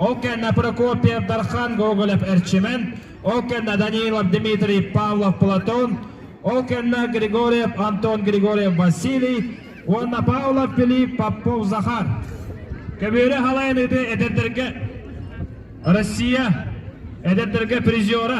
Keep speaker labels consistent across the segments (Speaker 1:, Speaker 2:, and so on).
Speaker 1: Ол кэннэ Прокопьев Дархан Гоголев Эрчимэн, ол кэннэ Данилов Дмитрий Павлов Платон, ол кэннэ Григорьев Антон Григорьев Василий уонна Павлов Филипп Попов Захар. Көбүөрү халайыныыты эдэрдэргэ Россия эдэрдэргэ призера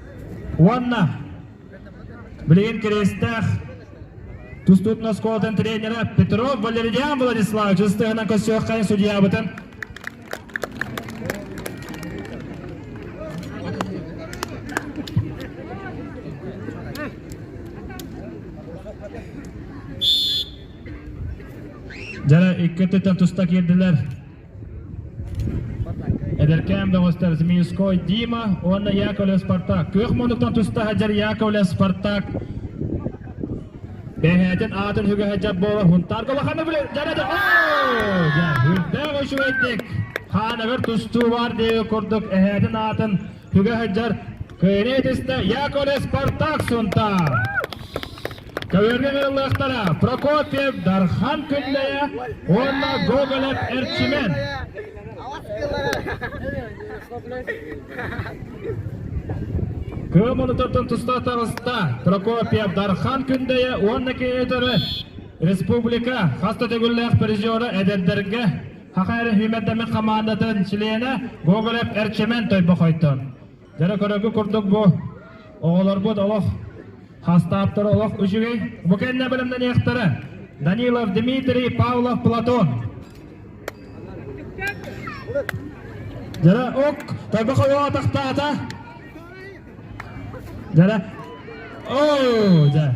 Speaker 1: Уонна билигин кириэстээх тустуутун оскуолатын тренерэ Петров Валерьян Владиславович ыстыһынан көссүөххайын судьябытын Дьара икки өттүттэн туста киирдилэр. Эдэркээн бөҕөстөр Змеюской Дима уонна Яковлев Спартак. Күөх муннуктан туста сылдьар Яковлев Спартак бэһээтин аатын үгэһэ дьап буолар Хунтаарга улаханы билэр дьарады дьа үрдээх үчүгэйдик хаанагар тустуу баар диэги курдук эһээтин аатын Күгэ сылдьар кыйыныы түстэ Яковлев Спартак Сунтаар. Көбүөргүн ылыллыахтара Прокофьев Дархан Күллэйэ уонна Гоголев Эрчимэн. Кыым онутыртын туста таҕыста Прокофьев Дархан Күндэйэ уонна киһи өтөрө республика хас да төгүллээх призера эдэрдэргэ Саха эрэһиимэрдэмин хамаандатын чилиэнэ Гоголев Эрчимэн Тойбохойтон. Дьэ көрөргө курдук бу оҕолорбут олох хастааптара олох үчүгэй. Бу кэннэ бэлэмнэниэхтэрэ Данилов Дмитрий, Павлов Платон. Дьара ок Тойбохой атахтаата. Дьара оо дьа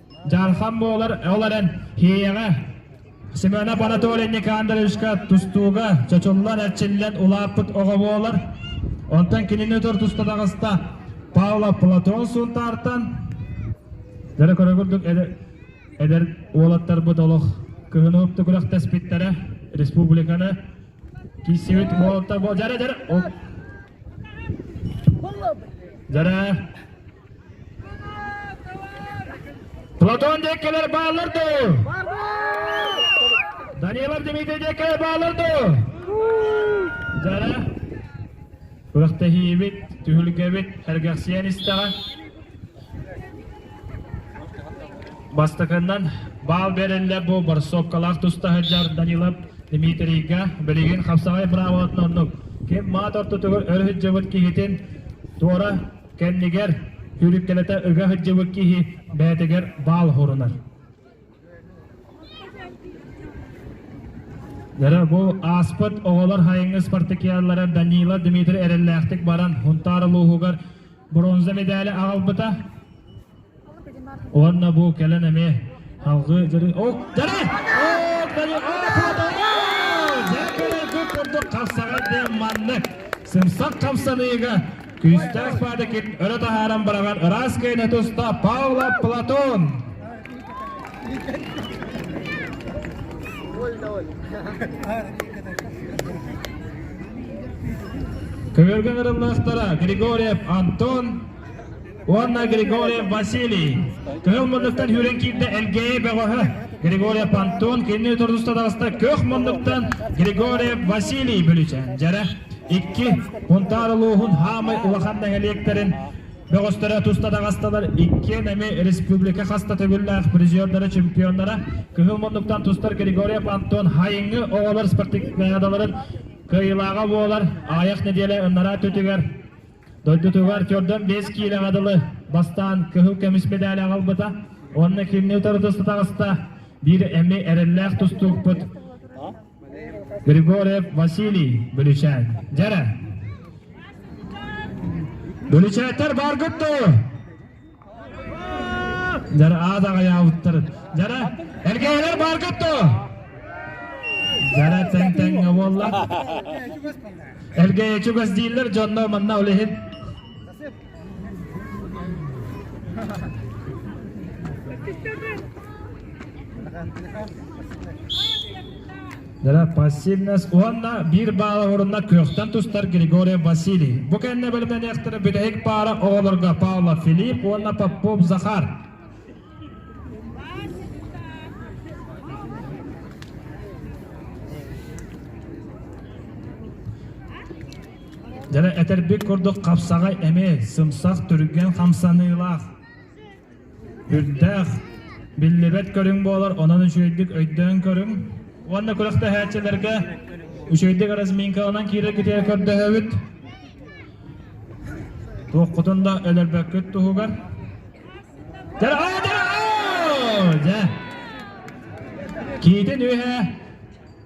Speaker 1: Дьаархан буолар ол эрэн Һиэйэҕэ Семенов Анатолий Никандровичка тустууга чочуллан эрчиллэн улааппыт оҕо буолар. Онтон кинини тор туста таҕыста Павла Платон Сунтаартан дөрө көрө курдук эдэр уолаттарбыт олох кыһынып күрэхтэспиттэрэ республиканы киссибит уолаттар бу жарэ жарэ жарэ Платон деккелер баалар дуу? Данилов Дмитрий деккелер баалар дуу? Дара күрэхтэһиибит, түһүлгэбит эргэхсийэн истэҕэ. Бастакыннан баал берелле бу барсовкалаах тустаһы жар Данилов Дмитрийга билигин хапсаҕай правотын оннук ким маат ортотугар өрүһүджэбит киһитин туора Кэннигэр сүүрүктэлэтэ ыга сылдьыбыт киһи бэйэтигэр баал оһорунар. Дэрэ бу ааспыт оҕолор хайыҥы спартакиадалара Данила Дмитрий эрэллээхтик баран Хунтаар улууһугар бронза медали аҕалбыта. Уонна бу кэлэн эмиэ халҕыы дьарык... О, дары! О, дары! Дьэкэри кут курдук хапсаҕар диэн маннык сымсах хапсаныыга күүстээх паадыкин өрө таһааран быраҕан ыраас кыайны туста Паула Платон. Көмөргөн ырымнаахтара Григорьев Антон уонна Григорьев Василий. Кыһыл муннуктан сүүрэн киирдэ Элгээйи бөҕөһө. Григорьев Антон кинини тургуста таҕыста көх муннуктан Григорьев Василий Бүлүчээн дьэрэ икки Пунтаар улууһун хаамай улахан нэһилиэктэрин бөҕөстөрө туста таҕасталар иккиэн эмиэ республика хаста төгүллээх призердара чемпионнара кыһыл муннуктан тустар Григорьев Антон Хайыҥы оҕолор спартакиадаларын кыайыылааҕа буолар аайах нэдиэлэ ыннараа төтүгэр Дойдутугар төрдөн биэс киилэҕэ дылы бастаан кыһыл көмүс медаль аҕалбыта уонна кинини утарыта таҕыста биир эми эрэллээх тустуукпут Григорьев Василий Бүлүчээн. Дьэрэ! Бүлүчээттэр баргыт дуу? Жара аат аҕыйаабыттар. Жара, эргээлэр бааргат то! Жара тэҥ-тэҥҥэ буолла. Эргээйэ чугас дииллэр дьонно манна олеһин. Дара пассивность уонна биир баала орунна кыахтан тустар Григорий Василий. Бу кэннэ бэлэмнэниэхтэрэ бүтүһүк паара оҕолорго Павла Филипп уонна Попов Захар. Дьара этербик курдук хапсаҕай эми, сымсах түргэн хамсаныылаах. Үрдээх, биллибэт көрүҥ буолар, онон үчүгэйдик өйдөөн көрүҥ. Уонна күрэхтэһээччилэргэ үчүгэйдик разминкаланан киирэр-китиэр көрдөһөбүт. Туоххутун да өлөрбөккүт туһугар. Дэрҕаа, дэрҕаа! Дьэ. Киитин үһэ.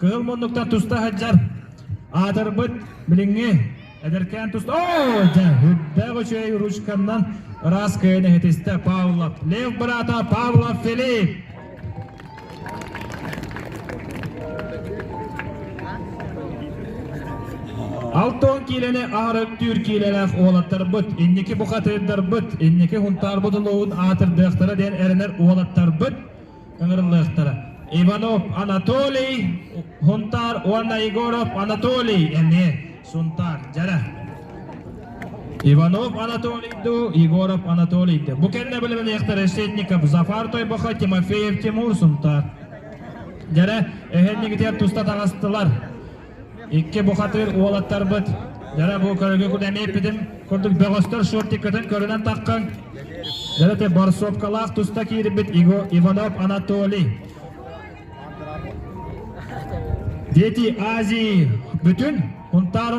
Speaker 1: Кыһыл муннуктан туста сылдьар. Аатырбыт билиҥҥи эдэркээн туста. Оо, дьэ, үрдээх үчүгэй ручканнан ыраас кыайын иһитистэ Павлов. Лев быраата Павлов Филипп. Алтон киилэни аһарыктыыр киилэлээх уолаттарбыт, инники бухатыырдарбыт, инники хунтаарбыт улууһун аатырдыахтара диэн эрэнэр уолаттарбыт ыҥырыллыахтара. Иванов Анатолий, Хунтаар уонна Егоров Анатолий эмиэ Сунтаар дьара. Иванов Анатолийду, Егоров Анатолийды. Бу кэннэ билиниэхтэр Решетников Зафар Тойбоха, Тимофеев Тимур Сунтаар. Дьэрэ, эһэннигитигэр туста таҕыстылар. Икки бухатыыр уолаттарбыт дьара бу көрүгү кудэми эппитим курдук бөҕөстөр шортиккытын көрүнэн таххын дьара ти борсуопкалаах туста киирбит Иванов Анатолий дети Азии бүтүн хунтаар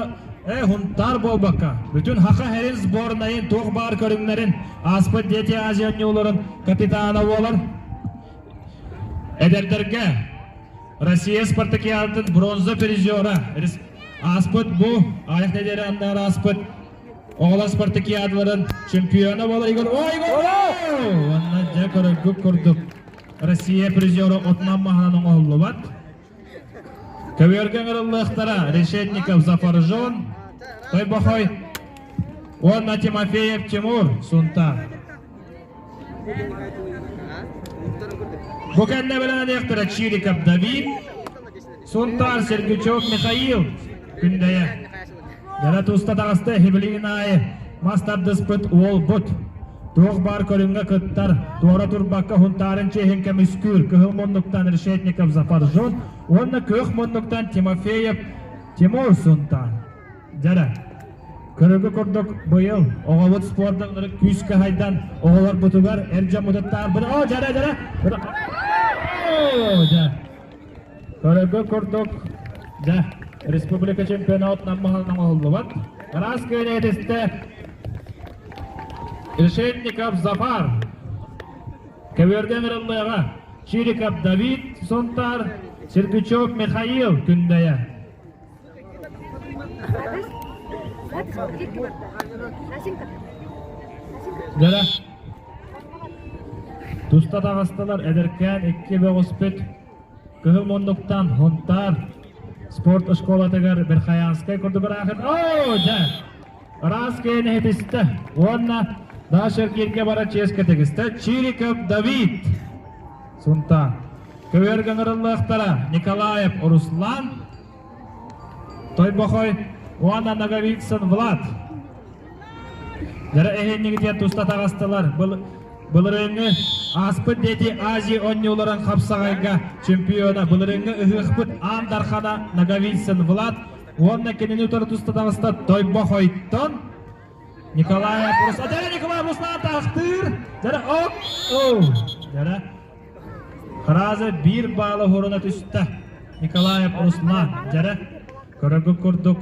Speaker 1: э хунтаар буолбакка бүтүн хаха херин сборнайын туох баар көрүҥнэрин ааспыт дети Азия оонньууларын капитана буолар Эдэрдэргэ Россия спартакиадатын бронза призера ааспыт бу аайах нэдиэлэ аннары ааспыт оҕолор спартакиадаларын чемпиона болар Игорь Ойгор уонна дьэ көрөргүт курдук Россия призера отунан маһынан оҥоһуллубат. Көбүөргэ ыҥырыллыахтара Решетников Запоржон, Тойбохой уонна Тимофеев Тимур Сунта. Бу кэннэ бэлэһэлиэхтэрэ Чириков Давид, Сунтаар Сергучев Михаил Күндэйэ. Дьара туста таҕыста Хибилигин аайы мас тардыспыт уолбут. Туох баар көрүҥҥэ кыттар, туора турбакка Хунтарын чиэһин көмүскүүр кыһыл муннуктан Решетников Запоржон уонна кыах муннуктан Тимофеев Тимур Сунтаар. Дьара, көрөргө курдук быйыл оҕобут спордаларын күүскэ хайдан оҕолорбутугар эр дьоммутуттаарбыт. Оо, Дьара, Дьара! Дьа. Көрөргө курдук дьа республика чемпионатынан маханан оһуллубат. Раз кыайнетистэ Решетников Запар Кэберден Рыллыга Чириков Давид Сунтар Сергучев Михаил Күндэйэ Дьэ, туста таҕыстылар эдэркээн икки бөҕүспүт кыһыл муннуктан Хунтаар спорт оскуолатыгар Верхоянскай курдук ыраахын оо дьэ ыраас киэн иһитистэ уонна Дашергирге баран чиэскэ тигистэ Чириков Давид Сунтаар Көбүөр ыҥырыллыахтара Николаев Руслан Тойбохой уонна Ноговицын Влад эһиэнньигититтэн туста таҕыстылар. Былырыыҥҥы ааспыт дети Азии онньууларын хапсаҕайга чемпиона былырыыҥҥы ыһыахпыт аан дархана Ноговицын Влад уонна кинини утары туста таҕыста Тойбохойтон Николая Пурс. Отдельно Николая Руслан таахтыыр. Дьара оп оу. Дьара Хараза биир баала хоруна түстэ. Николаев Руслан. Дьара көрөргө курдук.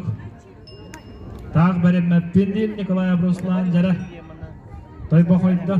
Speaker 1: Таах бэриммэппин диир Николаев Руслан Дьара. Той бохойдо.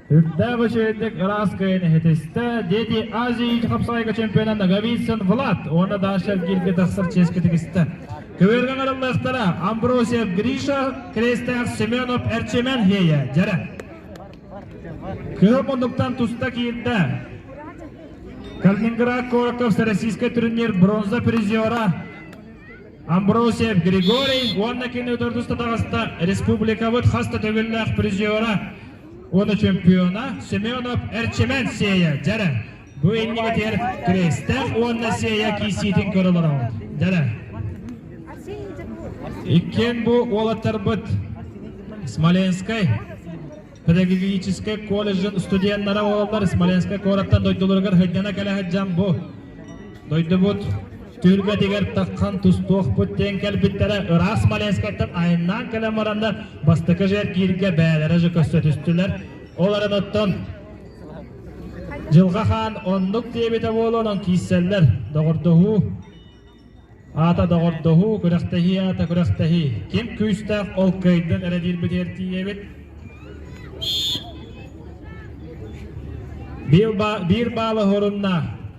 Speaker 1: Үрдээх үчүгэйдик ырааскайын иһитистэ, дети Азии ичи хапсаайга чемпиона Наговицын Влад уонна Даншельгирге тахсар чиэскэ тигистэ. Көбүөргэ ҥарыллыахтара Амбросьев Гриша, Крестээх Семенов Эрчимэн Лея дьэрэ. Кыһыл муннуктан туста киирдэ. Калининград Короков российский турнир бронза призера Амбросьев Григорий уонна кини төрдүс татаҕаста республикабыт хаста төгүллээх призера уонна чемпиона Семенов Эрчимэн Сея дьэрэ бу иннигэтигэр Крестээх уонна Сея киисиитин көрө олороҕут дьэрэ иккиэн бу уолаттарбыт Смоленскай педагогическай колледжын студеннара уоллар Смоленскай куораттан дойдуларыгар сыдьана кэлэ сыдьан бу Дойдубут түөлбэтигэр таххан тустуохпут диэн кэлбиттэрэ ыраас Смоленскайтан айаннаан кэлэн баранна бастакы жергииргэ бээлэрэ же көссө түстүлэр ол оттон Дьылҕа хаан оннук диэбитэ буолуон киисэллэр доҕордоһуу аата доҕордоһуу күрэхтэһии аата күрэхтэһии ким күүстээх ол кыайдын эрэ диирбитигэр тиийэбит биир баала хорунна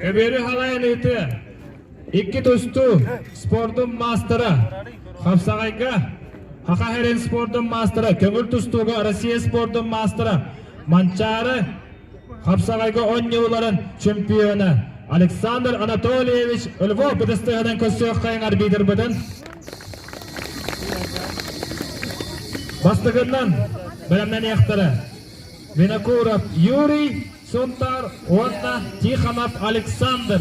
Speaker 1: Эбиэри халайан ыытыа. Икки тусту спордун маастара Хапсаҕайга Аха Херен спордун маастара, көҥүл тустууга Россия спордун маастара Манчаары Хапсаҕайга онньууларын чемпиона Александр Анатольевич Львов бытыстыһынан көрсүөххэйин арбитрбытын бастыгынан бэлэмнэниэхтэрэ. Винокуров Юрий Сунтаар уонна Тихонов Александр.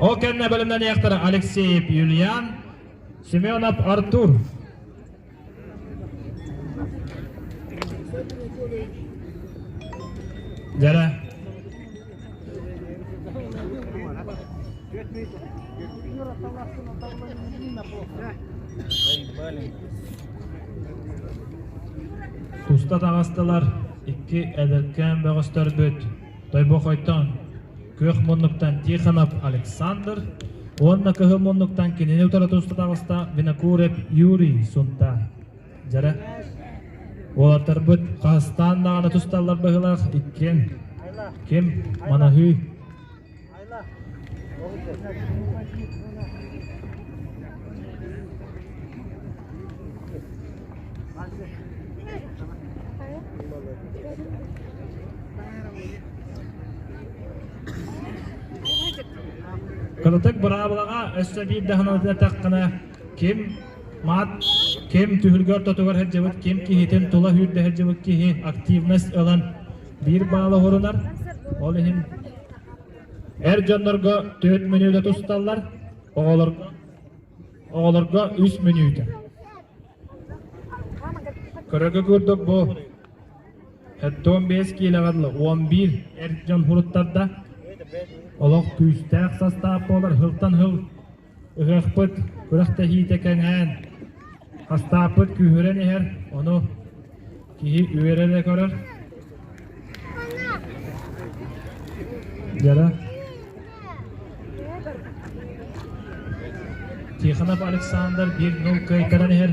Speaker 1: Ол кэннэ бэлэмнэниэхтэрэ Алексеев Юлиан, Семенов Артур. Дядя Туста таҕыстылар икки эдэркээн бөҕөстөрбүт Тойбох Хойтон, Күөх муннуктан Тихонов Александр уонна кыһыл муннуктан кинини утары туста таҕыста Винокуров Юрий Сунта. Дьара уолаттарбыт хастаан даҕаны тусталлар быһыылаах иккиэн ким манаһыы Кылытык быраабылаҕа өссө биир даһаны ататаххына ким Маат ким түһүлгө-ортотугар сылдьыбыт, ким киһитин тула үүрдэ сылдьыбыт киһи активность ылан биир баала оһорунар. Ол иһин эр дьоннорго түөрт мүнүүтэ тусталлар, оҕолорго оҕолорго үс мүнүүтэ. Көрөгө көрдік бу он бес киилэҕэрлы он бир эр дьон хуруттарда. Олох күүстээх састаап болар хылтан хыл Ыһыахпыт күрэхтэһиитэ кэнээн, хастааппыт күүһүрэн иһэр, ону киһи үөрэ да көрөр. Дьара. Тихонов Александр 1-0 кыайтаран иһэр.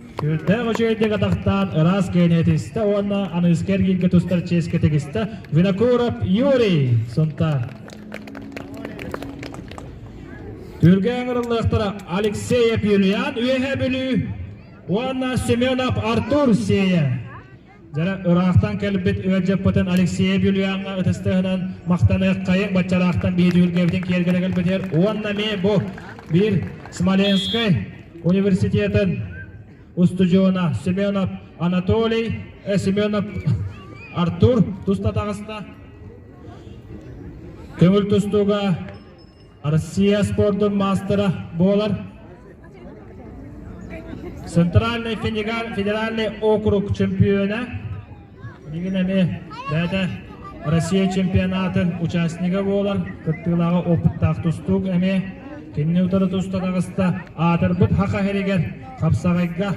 Speaker 1: Үүрдээх үчүгэйдик атахтаат, ыраас киэнэтистэ уонна аныыска эргииргэ тустар чиэскэ тигистэ Винокуров Юрий Сунтаар. Түргэ аңырыллыахтара Алексеев Юлиан Үөһэ Бүлүү уонна Семенов Артур Сея. Дьэ, ыраахтан кэлбит ыал дьаппытын Алексей Бүлүяҥҥа ытыстыһынан махтаныаххайык баччалаахтан биһиги үлгэбитин киэргэлэ кэлбитир уонна ми бу биир Смоленскай университетын устудьуона Семенов Анатолий э, Семенов Артур туста таҕыста. Көҥүл тустууга Россия спордун маастара буолар Центральный федеральный округ чемпиона Мигин эми бэйэтэ Россия чемпионатын участнига буолар кыттыылааҕы опыттаах тустуук эми кинини утары туста таҕыста аатырбыт хахаһеригэр хапсаҕайга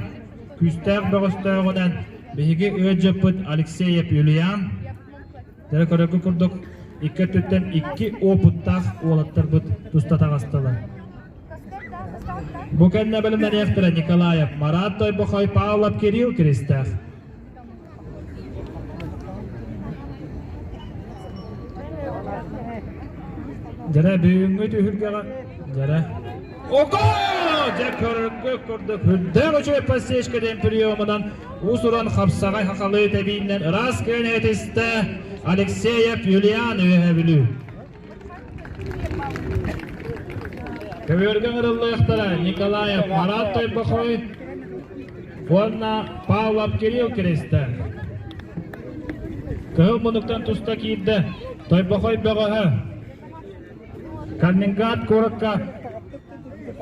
Speaker 1: күүстээх бөҕөстөөҕүнэн биһиги өт дьыппыт Алексеев Юлиан Эрэ көрөргө курдук, икки өттүттэн икки уопуттаах уолаттарбыт туста таҕыстылар. Бу кэннэ бэлэмнэниэхтэрэ Николаев Марат Тойбохой, Павлов Кирилл Киристээх. Дьэрэ бүгүҥҥү түһүлгэҕэ Дьэрэ Ого! Дьэ көрдөкүрдээх үчүгэй подсечкэтин приемунан уус-уран хапсаҕай хахалыы тэбииннэн ыраас кыаны этистэ Алексеев Юлиан үөһэбүлүү. Көбүөргэ ырыллыахтара Николаев Марат Тойбохой уонна Павлов Кирилл Киристэ. Кыһыл мунуктан туста киирдэ Тойбохой бөҕөһө Калининград куоракка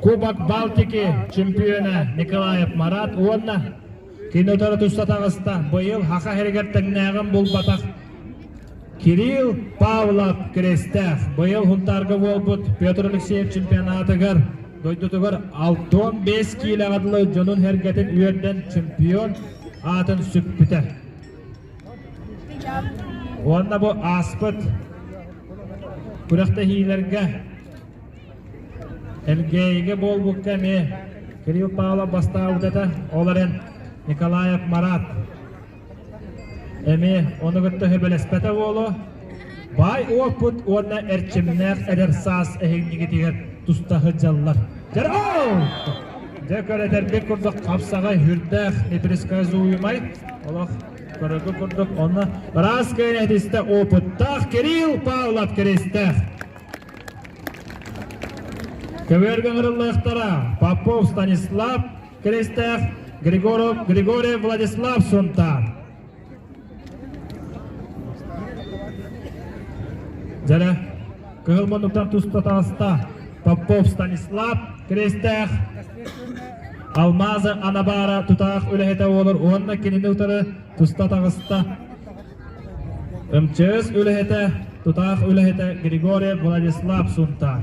Speaker 1: Кубок Балтики чемпиона Николаев Марат уонна кини утары тусса таҕыста. Быйыл Аха иһэригэр тэҥнээҕин булбатах Кирилл Павлов кирэстээх. Быйыл Хунтаарга буолбут Петр Алексеев чемпионатыгар дойдутугар алтан бэс киилэҕэ дылы дьонун сэргэтин үөрдэн чемпион аатын сүкпүтэ. Уонна бу ааспыт күрэхтэһиилэргэ Элгээйигэ буолбукка эмиэ Кирилл Павлов бастаабыт этэ. Ол эрэн Николаев Марат эмиэ ону кытта сөбүлэспэтэ буолуо. Баай уоппут уонна эрчимнээх эдэр саас эһиҥнигитигэр туста сылдьаллар. Дьэрҕээл! Дьэ көрөтөрбүт курдук хапсаҕай үрдээх непересказуемай олох көрөргө курдук онно быраас кыайын этистэ опыттаах Кирилл Павлов Киристээх. Көбүөргэ ыҥырыллыахтара Попов Станислав Киристээх Григоров Григорий Владислав Сунтаар. Дьэрэ, кыһыл муннуктар туспа таҕыста. Попов Станислав, Крестээх, Алмазы Анабаара тутаах үлэһитэ буолар уонна кинини утары туста таҕыста. МЧС үлэһитэ, тутаах үлэһитэ Григорий Владислав Сунтаар.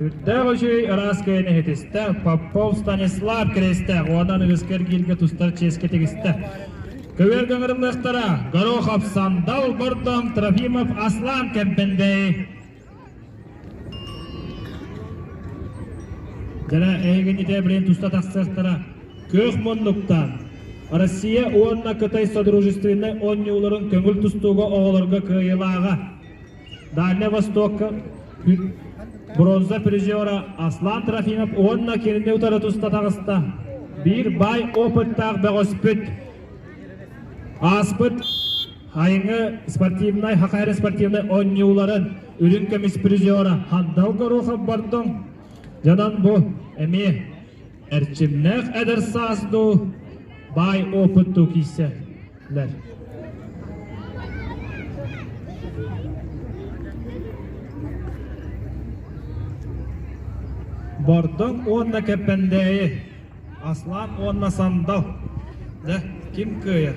Speaker 1: Үрдээх үчүгэй ыраас кэйин иһитистэ. Попов Станислав киристэ. Уонан ыгыскар кииргэ тустар чиэскэ тигистэ. Көбүөр гаңырымныахтара. Горохов Сандал Бордом Трофимов Аслан Кэмпендей. Дара эйгин ите билен туста тахсыахтара. Көөх муннуктан. Россия уонна Кытай Содружественнай онньууларын көҥүл тустууга оҕолорго кыайылааҕа. Дальнай Востокка бронза призера Аслан Трофимов уонна кинини утары туста таҕыста. Биир баай опыттаах бөҕөспүт. Ааспыт айыҥы спортивнай, хахайары спортивнай оонньууларын үрүҥ көмүс призера Хандал Горохов бардым. Дьонон бу эмиэ эрчимнээх эдэр саас дуу, баай опыттуу киирсэр. Бэл Бордоҥ уонна Кэппэндээйи, Аслан уонна Сандал. Дэ, ким кыайар?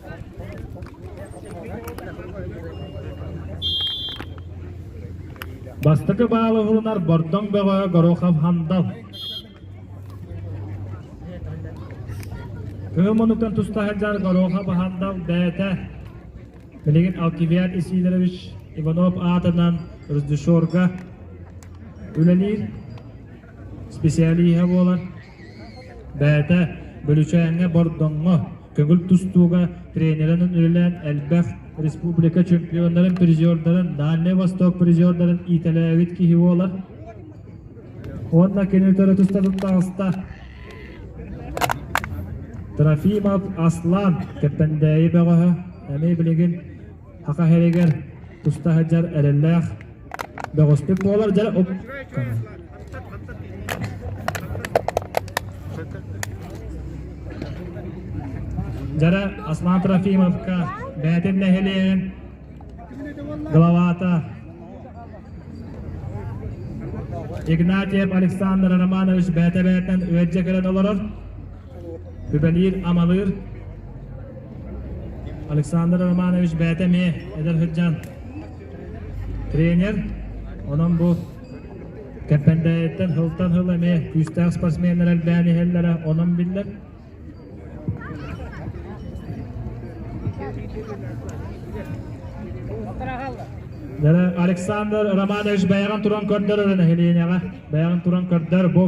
Speaker 1: Бастакы баалы уһулунар Бордоҥ бөҕөҕө Горохов Хандал. Кыым онуттан туста сылдьар Горохов Хандал бэйэтэ. Билигин Алкивиад Исидорович Иванов аатынан режиссерга үлэлиир специалиһа буолар. Бэйэтэ Бөлүчээҥҥэ Бордоҥҥо Көҥүл тустууга тренеринэн үлэлээн элбэх республика чемпионнарын призердарын, Дальний Восток призердарын иитэлээбит киһи буолар. Уонна кини төре туста туттаҕыста Трофимов Аслан, Кэппэндээйи бөҕөһө, эмиэ билигин Саха сиригэр туста сылдьар эрэллээх, бөҕөстүк буолар дьэ Дьара Аслан Трофимовка бээтин нэһилиэгин главата Игнатьев Александр Романович бээтэ бээтинэн үөрдьэ кэлэн олорор Үлэлиир-амалыыр Александр Романович бэйэтэ эмиэ эдэр сылдьан тренер. Онон бу Кэппэндэйиттэн сылтан сыл эмиэ күүстээх спортсменнар элбээн иһэллэрэ онон биллэр. Александр Романович бэйэҕин туран көрдөр өрө нэһилиэнньэҕэ. Бэйэҕин туран көрдөр, бу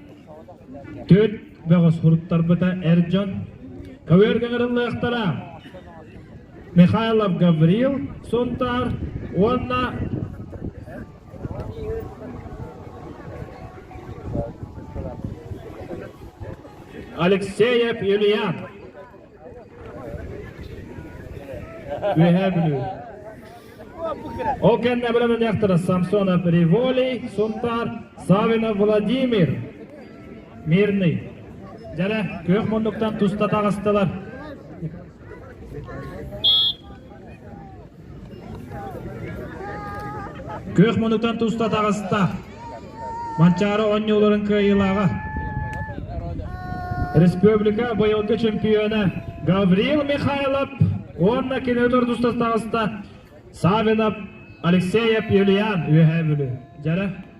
Speaker 1: Түөрт бөҕө суруттарбыта эр дьон көбүөргэ ыҥырыллыахтара. Михайлов Гаврил Сунтаар уонна Алексеев Юлиан Үөһээ Бүлүү. Ол кэннэ бөлөмүнэхтэрэ Самсона Приволей, Сунтаар, Савина Владимир, Мирный. Дьэлэ, күөх муннуктан туста таҕыстылар. Күөх муннуктан туста таҕыста. Манчаары оонньууларын кыайыылааҕа. Республика быйылгы чемпиона Гавриил Михайлов уонна кини өлөр тустас таҕыста Савинов Алексеев Юлиан үөһээ бүлүү. Дьэрэ.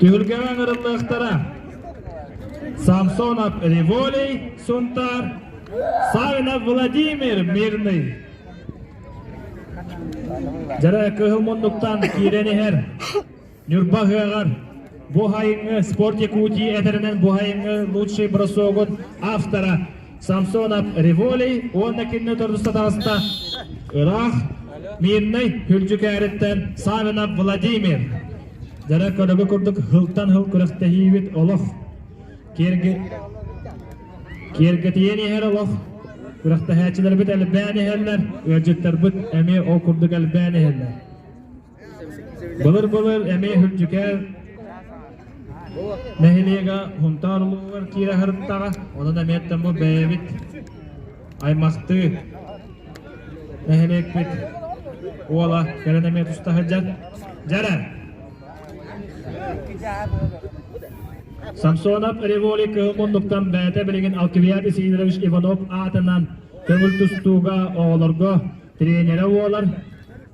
Speaker 1: Түһүлгэҕэ ыҥырыллыахтара. Самсонов Риволей, Сунтаар, Савинов Владимир Мирный. Жара кыһыл муннуктан киирэн иһэр. Ньурба ыһыаҕар бу айыҥҥы Спорт Якутии этэринэн бу айыҥҥы лучший бросогун автора Самсонов Револей уонна кинини төрдүстэ таҕыста ыраах Мирнэй Күлдьүкээриттэн Савинов Владимир Дьара көрөгө курдук хылтан хыл күрэхтэһиибит олох киэргэ киэргэтийэн иһэр олох күрэхтэһээччилэрбит элбээн иһэллэр ыалдьыттарбыт эмиэ ол курдук элбээн иһэллэр Былыр-былыр эмиэ Үрдүкээн нэһилиэгэ Хунтаар улууһугар киирэ сырыттаҕа, онон эмиэттэн бу бэйэбит аймахтыы нэһилиэкпит уола кэлэн эмиэ туста сылдьар. Дьэрэ! Самсонов Револи кыһын муннуктан бэйэтэ билигин Алкивиад Исидорович Иванов аатынан көҥүл тустууга оҕолорго тренерэ буолар.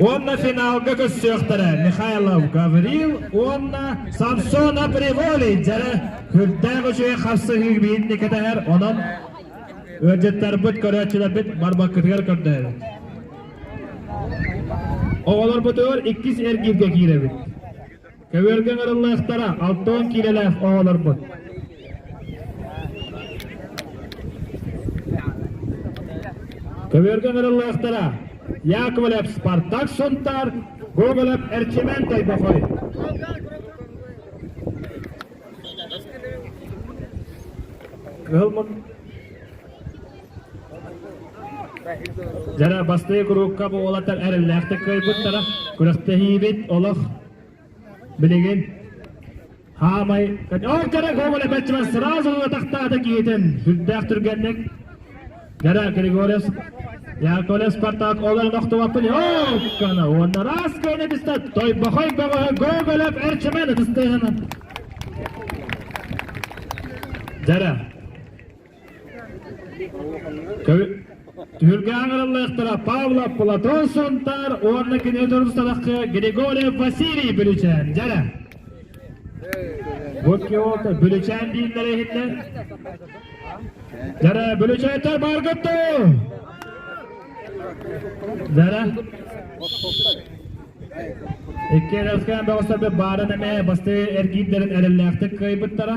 Speaker 1: Уонна финалга көрсүөхтэрэ Михайлов Гаврил уонна Самсона Приволи дьэрэ күрдээх үчүгэй хапсыһыы биһинни кэтэһэр онон ыалдьыттарбыт көрөөччүлэрбит барбаккытыгар көрдөһөбүт. Оҕолорбутугар иккис эргииргэ киирэбит. Көбүөргэ ыҥырыллыахтара алта уон киилэлээх оҕолорбут. Көбүөргэ ыҥырыллыахтара Яковлев Спартак Сунтаар, Гоголев Эрчимэн Тайбохой. Ыһылмын Жара бастыы куруука буолатар эрэллээхтик кыайбыттара күрэхтэһиибит олох Билигин хаамай өр кэрэ көҥүлэ бэччимэн сразу атахтаата киһитин сүрдээх түргэнник Гера Григорьев Яковлев Спартак олорон охтубат плей-оффканы уонна расканы түсте Тойбохой көҥүһэ Гоголев Эрчимэн ытыстыһынан Жара Түһүлгэ аҥарыллыахтара Павла Платон Сунтаар уонна кини дурусталаххы Григорий Василий Бүлүчээн дьэрэ. Бу икки олта Бүлүчээн дииллэр иһиннэ. Дьэрэ Бүлүчээнтэр баргытту! Дьэрэ. Икки эрэлскээн бөҕөстөрбүт баарын эмэ бастыы эргиирдэрин эрэллээхтик кыайбыттара.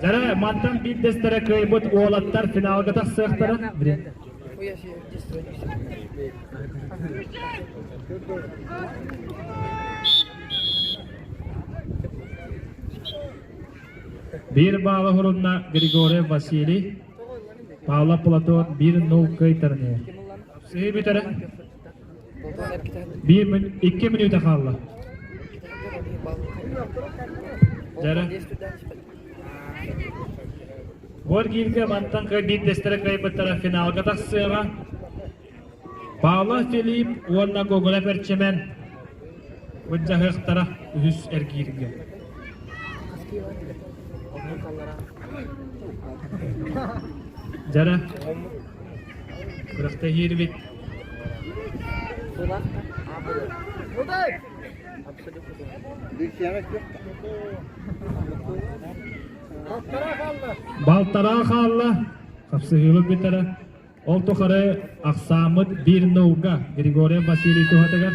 Speaker 1: Дьара, мантан биирдэстэрэ кыайбыт уолаттар финалга тахсыахтара. Биир баала хурунна Григорий Василий, Павла Платон 1-0 кыайтарынıyor. Сыһыы бүтэрэ. Биир мүнүүт, икки мүнүүтэ хаалла. Дэрэ. Горгиевка мантан кыай биирдэстэрэ кыайбыттара финалга тахсыаҕа. Павлов Филипп уонна Гоголев Эрчимэн мындьаһыахтара үһүс эргииргэ. Дэрэ. Күрэхтэһиирбит балтараа хаалла, хапсыһыыбыт бүтэрэ. Ол тухары ахсааммыт 1-0-га Григорий Василий туһатыгар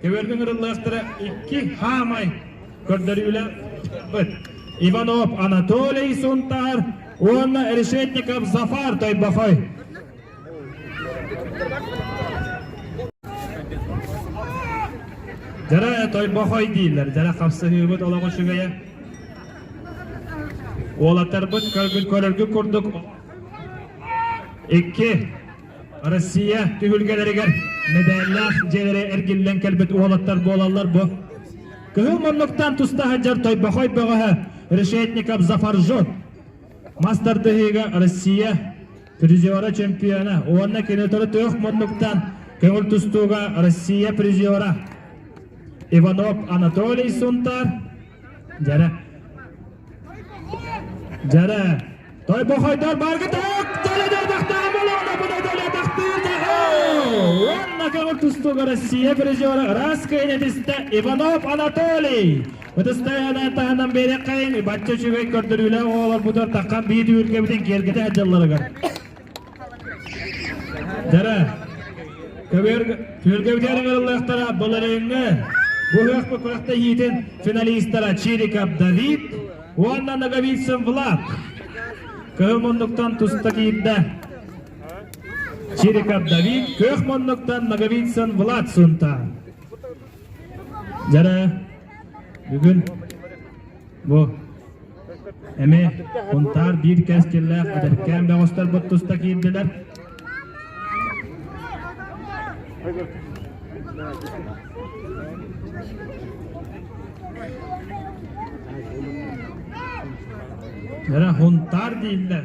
Speaker 1: Түөргүн ырыллыахтара икки хаамай көрдөрүүлэхпит. Иванов Анатолий Сунтаар уонна Решетников Зафар Тойбохой. Жара Тойбохой дийлер, жара хапсыһыыбыт олоҕу үчүгэйэ. Уолаттарбыт көргүл көрөргү курдук. Икки Россия түһүлгэлэригэр мэдээллээх дьиэлэри эргиллэн кэлбит уолаттар буолаллар бу. Кыһыл муннуктан туста сылдьар тойбохой бөҕөһө Решетников Зафаржот. Мас тардыһыыга Россия призера чемпиона уонна кинотору тыах муннуктан көҥүл тустууга Россия призера Иванов Анатолий Сунтаар. Дьэрэ Дьэрэ, Тойбохойдор баргытык төлөтөтөхтөҕө болоҕото була төлөтөхтүүр дьэһэ! Уонна көҥүл тустууга Россия призера ыраас кыйнэтистэ Иванов Анатолий. Ытыстайаанан таһынан бэриэххэйин бачча үчүгэй көрдөрүүлээх оҕолорбутугар таххан биир түүргэбитин киэргэтэ дьылларыгар. Дара, күөргэ бүтэрин ыллахтара балариҥҥа бу ыһыахпы күрэхтэ иитин финалистара Чириков Давид уонна Ноговицын Влад. Кыһыл муннуктан туста киирдэ. Чириков Давид, көх муннуктан Ноговицын Влад сунта. Дара, Бүгүн бу эми кунтаар биир кэскиллээх эдэркээн бөҕөстөрбүт туста киирдилэр. Эре хунтаар дииллэр.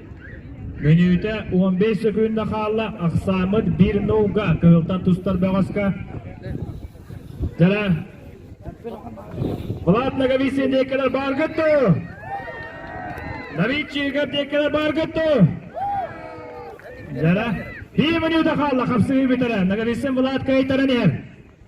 Speaker 1: Мүнүүтэ уон биэс сөкүүндэ хаалла, ахсааммыт биир нууга кыһылтан тустар бөҕөскө. Дьэлэ Влад Наговицин диэккэлэр баар көттү. Новичига диэккэлэр баар көттү. Дьэлэ биир мүнүүтэ хаалла, хапсыһыы бүтэрэ. Наговицин Влад кыайтаран иһэр.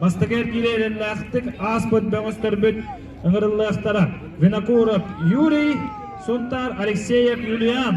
Speaker 1: Бастакы эргиирэ эрэллээхтик ааспыт бөҕөстөрбүт ыҥырыллыахтара. Винокуров Юрий, Сунтаар Алексеев Юлиан.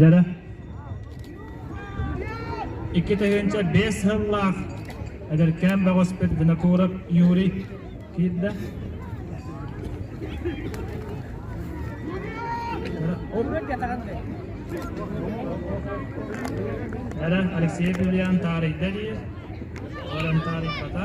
Speaker 1: Дьара икки тыһыынча биэс сыллаах эдэркээн бөҕөспүт Винокуров Юрий Киирдэ. Эрен Алексей Юлиан таарыйда дии. Олен таарыйбата.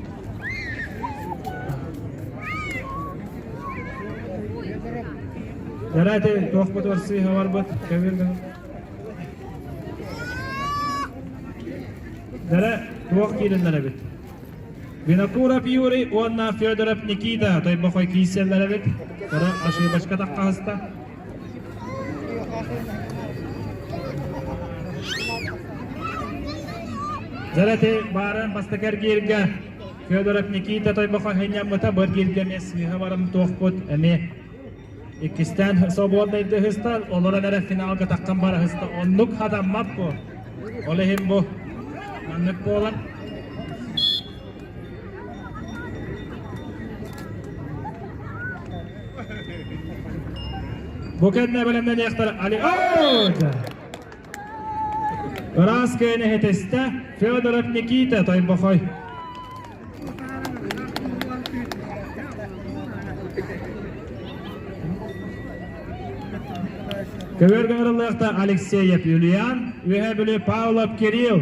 Speaker 1: Жарайты туохпутугар сыыһа барбыт көбүргүн Дара туох киириннэр эбит Винокуров Юрий уонна Федоров Никита тойбохой кииссэллэр эбит Ора ошибочка таққаһыста Зараты бааран бастакы эргииргэ Федоров Никита Тойбохо хынньаммыта быр гиргэмиэ сыыһа барым туохпут эми иккистээн собуоннайды ыһыста олорон эрэ финалга таххан бара ыһыста оннук хатаммаппу ол иһин бу маннык буолан Бу кэннэ бэлэмнэниэхтэр Алиорда Ыраас кээн эһэтэстэ Федоров Никита Тойбохой Көбөргө арыллыахта Алексеев Юлиан, Үһэ Бүлү Павлов Кирилл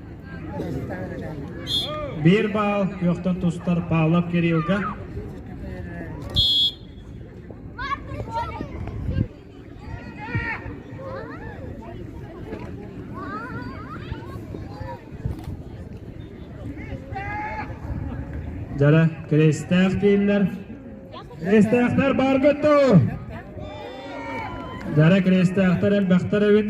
Speaker 1: Биир баал күөхтэн тустар Павлов Кириллга Дьара Кирестээх дииллэр. Кирестээхтэр баар көттө. Дьара Кирестээхтэр элбэхтэр эбит.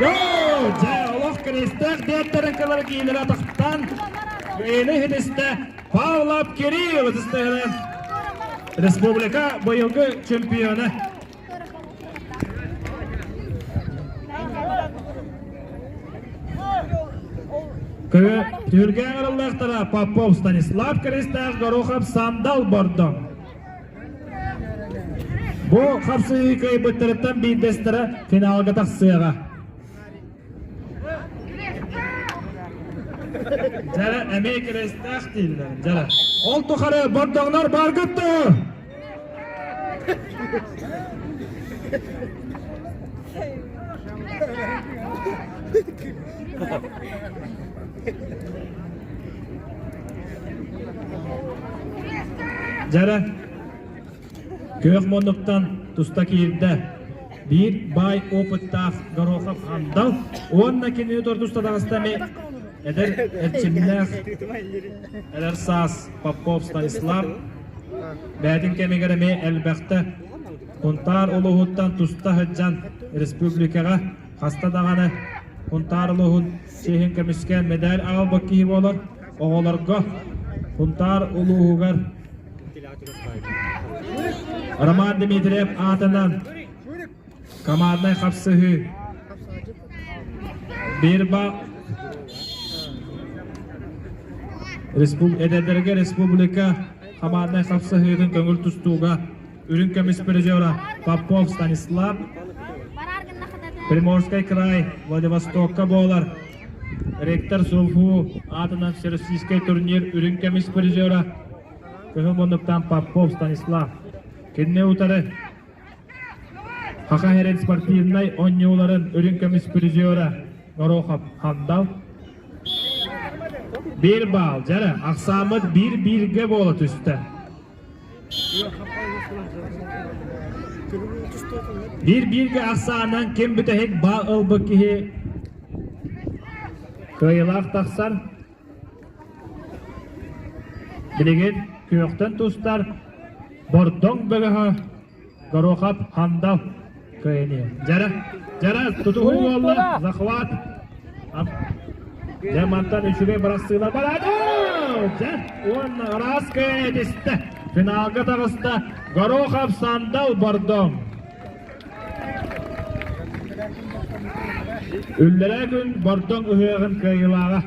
Speaker 1: Йоо! Дьэ, олох кырыыстаах дээттэрин кылары киинэлэ тахсан, военный хитистэ Павла Кириллов ытыстыһыны республика быйылгы чемпиона. Түргээн ырыллахтара Попов Станислав Кырыыстаах Горохов сандал бордо. Бу харсыһыы кыайбыттарыттан биирдэстэрэ финалга тахсыаҕа. Дьара эмиэ кирэстээх дииллэр. Дьара. Ол тухары бордоҥнор баргыттыы! Дьара күөх муннуктан туста киирдэ. Биир баай опыттаах Горохов Хандал уонна кинини тортуста таҕыстами эдэр эрчимнээх эдэр саас Попов Станислав бээтин кэмигэр эмиэ элбэхтэ Кунтаар улууһуттан туста сылдьан республикаҕа Хаста даҕаны Хунтаар улууһун сиэһин көмүскээн мэдээл аҕалбыт киһи буолан оҕолорго Хунтаар улууһугар Роман Дмитриев аатынан команднай хапсыһыы Бирба респуб эдэрдэргэ республика команднай хапсыһыытын көҥүл тустууга үрүҥ көмүс призера Попов Станислав Приморский край Владивостокка буолар ректор Сулфу аатынан всероссийский турнир үрүҥ көмүс призера кыһыл муннуктан Попов Станислав кинини утары Хахаherин спортивнай онньууларын үрүҥ көмүс призера Горохов Хандал Бир баал, жары, ақсамыт бір-бірге бола түсті. Биир-бииргэ ахсаанынан ким бүтэһик баа ылбыт киһи кыайылаах тахсар. Билигин күөхтэн тустар Бордоҥ бөлөһө Горохов Хандал кыайыны. Жара, Жара тутуһуу уолла захват. Дэ мантан үчүгэй бырастыылар бараады. Уонна араская этисте. Финалга таҕыста Горохов Сандал Бордом. Үллэрэ күн Бордон ыһыаҕын кыайылааҕа.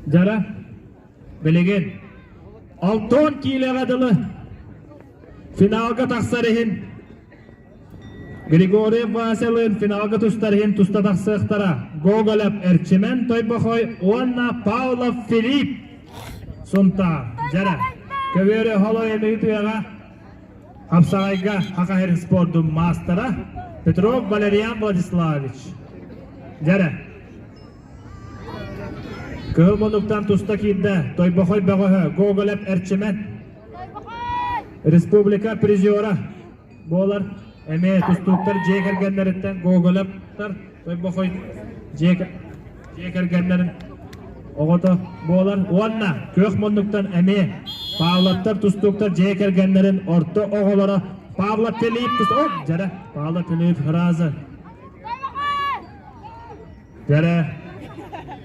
Speaker 1: Дара, билигин Алтон киилэҕэ дылы финалга тахсар иһин Григорьев Васялыын финалга тустар иһин туста тахсыахтара Гоголев Эрчимэн Тойбохой уонна Павлов Филипп Сунтаар Дьара Көбүөрү Холой Эмиги тыаҕа Хамсаҕайга Хахаһыр спордун маастара Петров Валерьян Владиславович. Дьэрэ. Кыһыл мунуктан туста киирдэ Тойбохой бөҕөһө Гоголев Эрчимэн. Республика призера буолар эмиэ тустууктар дьиэ кэргэннэриттэн Гоголевтар хой-бохой дьиэ дьиэ кэргэннэрин оҕото буолан уонна күөх муннуктан эмиэ Павлоттар тустууктар дьиэ кэргэннэрин орто оҕолоро Павло Филипп тус о дьэрэ Павло Филипп фраза дьэрэ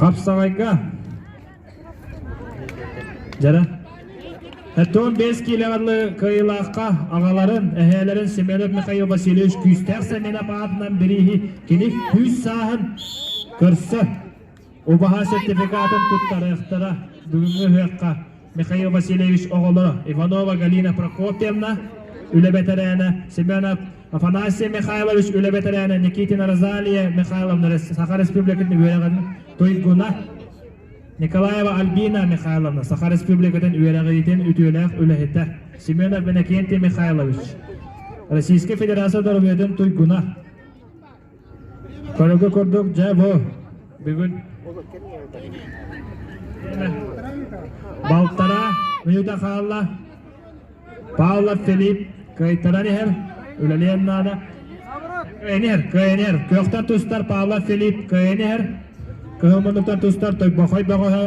Speaker 1: Хапсаҕайга Дьара Артем бес киилэҕэрлы кыйылаахха аҕаларын, эһээлэрин Семенов Михаил Васильевич күүстээх сэминэ паатынан бирииһи кини күүс сааһын көрсө Убаһа сертификатын туттарыахтара. Бүгүҥҥү ыһыахха Михаил Васильевич оҕолоро Иванова Галина Прокопьевна, үлэ бэтэрээнэ Семенов Афанасий Михайлович, үлэ бэтэрээнэ Никитина Розалия Михайловна, Саха Республикатын үөрэҕин туйгуна Николаева Альбина Михайловна, Саха Республикатын үөрэҕитин үтүөлээх үлэһитэ Семенов Иннокентий Михайлович, Российская Федерация доруобуйатын туйгуна Көрөргө курдук, дьэ бу бүгүн балтара мүнүүтэ хаалла. Павла Филипп кыайтаран иһэр, үлэлиэн наада. Кыайан иһэр, кыайан иһэр. Көхтөн тустар Павла Филипп кыайан иһэр. Кыһымынуктан тустар Тойбохой бөҕөһө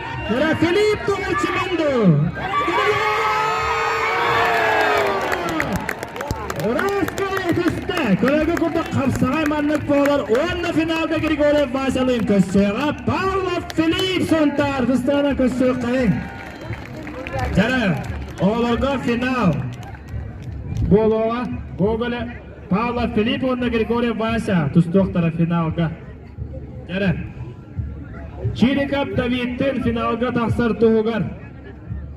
Speaker 1: Кыра клип тугайчы булду. Ыраастаан көстө, көрөгө курдук хапсаҕай маннык буолар уонна финалда Григорьев Васялыын көссөҕө Павлов Филипп Сунтаар артыстаана көссүөххэйин. Дьара, оҕолорго финал буолуоҕа Гоголе Павлов Филипп уонна Григорьев Вася тустуохтара финалга. Чириков Давидтыын финалга тахсар туһугар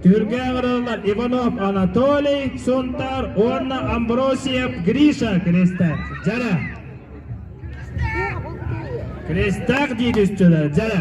Speaker 1: түргээх араллар Иванов Анатолий Сунтаар уонна Амбросиев Гриша Кристээх дьэрэ Кристээх дии түсчүлэр дьэрэ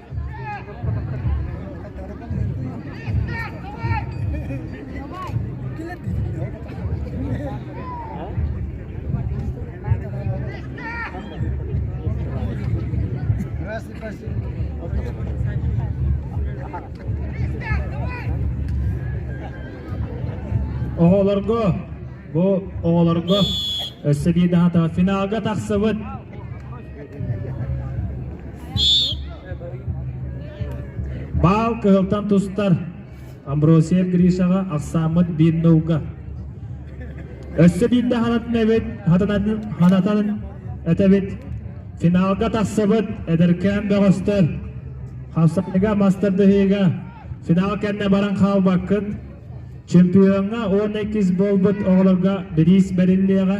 Speaker 1: Оҕолорго, бу оҕолорго өссө биир даҕата финалга тахсыбыт Баал кыһылтан тустар Амбросиев Гришаҕа ахсааммыт биирнауга. Өссө биирдэ ханатын эбит, ханатан этэбит. Финалга тахсыбыт эдэркээн бөҕөстөр хапсаныга мастардыһыыга финал кэннэ баран хаалбаккын. Чемпиоҥҥа 12 буолбут оҕолорго бириис бэриллиэҕэ.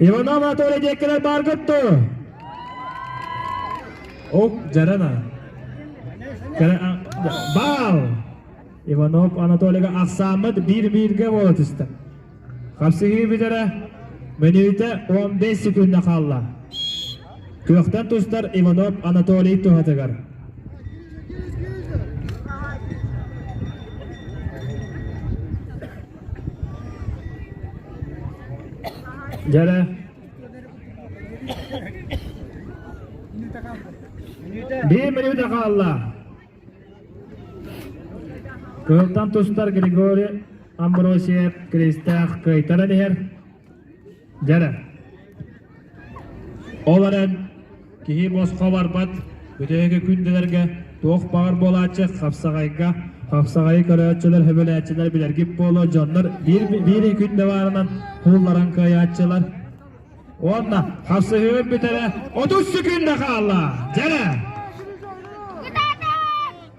Speaker 1: Иванов Анатолий диэккилэр бааргытту. Ук, Жарана. Баал! Иванов Анатолийга ахсааммыт биир-бииргэ буола түстэ. Хапсыһыы бүтэрэ мүнүүтэ 15 секундна хаалла. Күөхтэн тустар Иванов Анатолий туһатыгар. Дьэ Биир минута хаалла. Кыһылтан тустар Григорий Амбросиев Кристээх кыайтаран иһэр. Дьэрэ ол эрэн киһи босхо барбат бүтэһиги күндүлэргэ туох баҕар буолааччы хапсаҕайга хапсаҕайы көрөөччүлэр сөбүлээччилэр билэргит буолуо дьоннор биир биир күндэ баарынан куулларан кыайааччылар уонна хапсыһыыр бүтэрэ отут секунда хаалла дьэрэ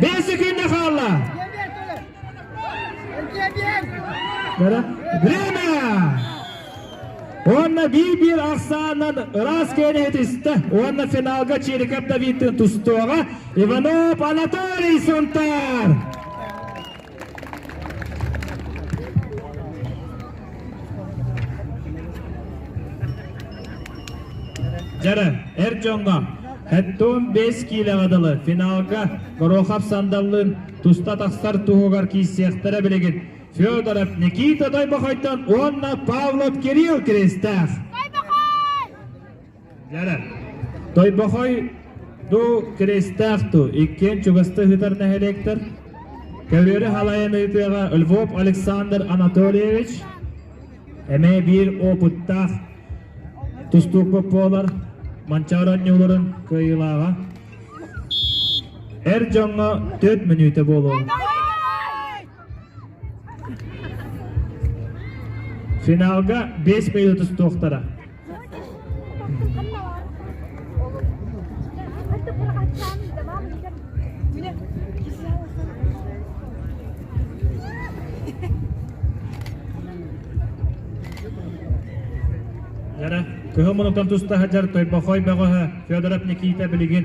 Speaker 1: Биир секунда хаалла. Время! Уонна биир-биир ахсаанынан ыраас киэни итистэ уонна финалга Чириков Давидтыын тустуоҕа Иванов Анатолий Сунтаар! Дьара, эр дьоҥҥо Хэнтуун биэс киилэҕэ дылы финалга Горохов сандаллыын туста тахсар туһугар киирсиэхтэрэ билигин Федоров Никита Дойбохойтон уонна Павлов Кирилл Киристээх. Тойбохой дуу, киристээх дуу иккиэн чугасты ыытар нэһилиэктэр Көлүөрү халайан ыытыаҕа Львов Александр Анатольевич эмэ биир опыттаах тустуукпут буолар Манчаар оонньууларын кыайыылааҕа эр дьоҥҥо түөрт мүнүүтэ буолуо Финалга 5 минут устуохтара. Яра, кыһыл мунуктан туста хаджар Тойбохой бөҕөһө Федоров Никита билигин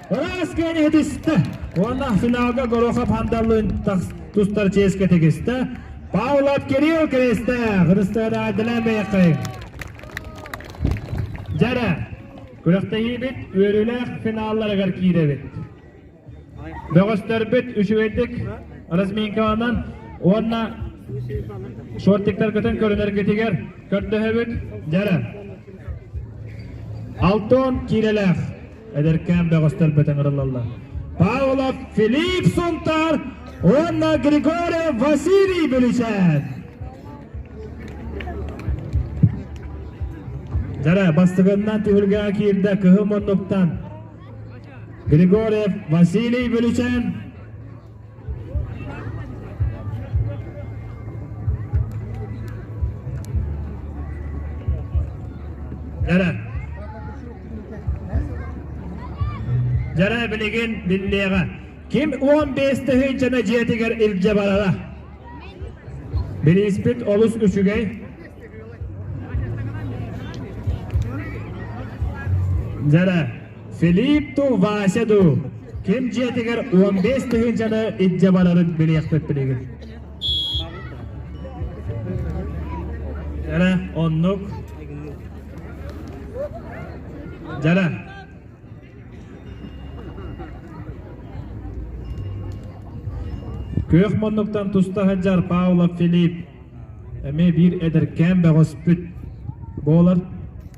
Speaker 1: Ыраас киэн этистэ уонна финалга Горохов Хандаллын тустар чиэскэ тигистэ. Паулат Кирилл Киристээх ырыстараадылан бэйэккэйин. Дьэрэ, күрэхтэһиибит үөрүүлээх финалларыгар киирэбит. Бөҕөстөрбүт үчүгэйдик разминкаланан уонна шортиктаргытын көрүнэргитигэр көрдөһөбүт. Дьэрэ. Алтон киирэлээх. эдэркээн бөҕөстөрбөтөн ырылаллар Павлов Филипп Сунтаар уонна Григорий Василий Бүлүчээн. Дьара бастыгыннан түһүлгэҕэ киирдэ кыһыл муннуктан Григорьев Василий Бүлүчээн Дара. Дара билигин биллиэҕэ. Ким 15 тыһы жана дьиэтигэр илдьэ барара. Бирииспит олус үчүгэй. Дара, Филиппу Васяду ким дьиэтигэр он бес тыһыынчаны илдьэ барарын билиэхпит билигин. Дьара оннук. Дьара. Күөх муннуктан туста сылдьар Паула Филипп эмиэ биир эдэркээн бөҕөспүт буолар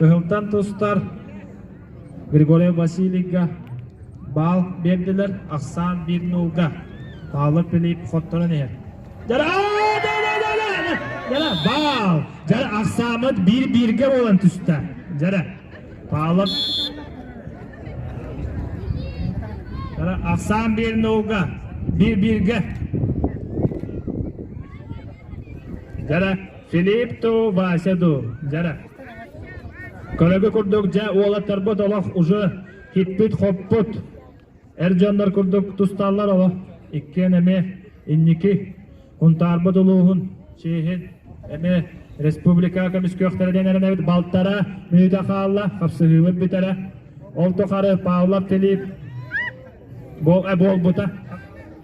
Speaker 1: Кыһылтан тустар Григорий Васильевга баал биэрдилэр, ахсаан биир нулга. Таала Филипп хотторон иһэр. Дара, баал! Дара, ахсааммыт биир-бииргэ буолан түстэ. Дара, Павлов Дара, ахсаан биэрнауга биир-бииргэ. Дара, Филиппу Васяду. Дара. Көрөгү курдук дьэ уолаттарбыт олох уже хиппит-хоппут. Эр дьоннор курдук тусталлар оҕо. Иккиэн эмиэ инники Кунтаарбыт улууһун чиэһин эмиэ республика көмүскүөхтэрэ диэн эрэнэбит. Балтара мүнүүтэ хаалла, хапсыһыыбыт бүтэрэ. Ол тухары Павлов Филипп буол, э, буолбута.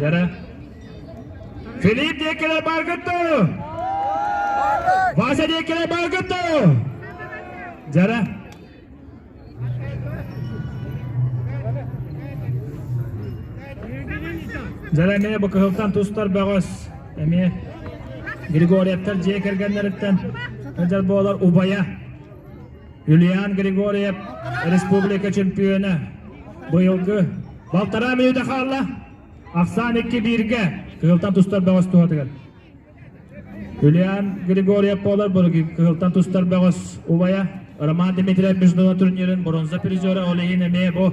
Speaker 1: Дара. Филипп Декеле Баргатто! Вася Декеле Баргатто! Дара. Дьара эмиэ бу кыһылтан тустар бөҕөс эмиэ Григорьевтар дьиэ кэргэннэриттэн өдьөр буолар убайа Ульян Григорьев республика чемпиона быйылгы балтараа мүнүүтэ хаалла ахсаан икки бииргэ кыһылтан тустар бөҕөс туһатыгар Ульян Григорьев буолар былыргы кыһылтан тустар бөҕөс убайа Роман Дмитриев международный турнирын бронза призера Олейин эмиэ бу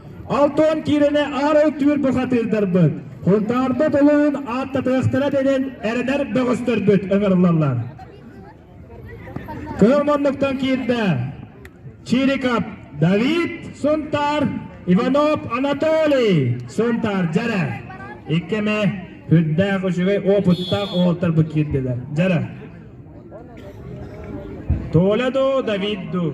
Speaker 1: Алтан киирэнэ аарыл түүр бухатыырдарбыт, Хунтаарда толуун ааттатыахтара дэнин эрэнэр бөҕөстөрбүт ыҥырыллаллар. Кыһыл муннуктан киирдэ Чирикап Давид Сунтаар, Иванов Анатолий Сунтаар Дьэрэ. Иккими үрдээх үчүгэй опыттаах оҕолорторбут киирдилэр. Дьэрэ. Толя ду, Давид ду.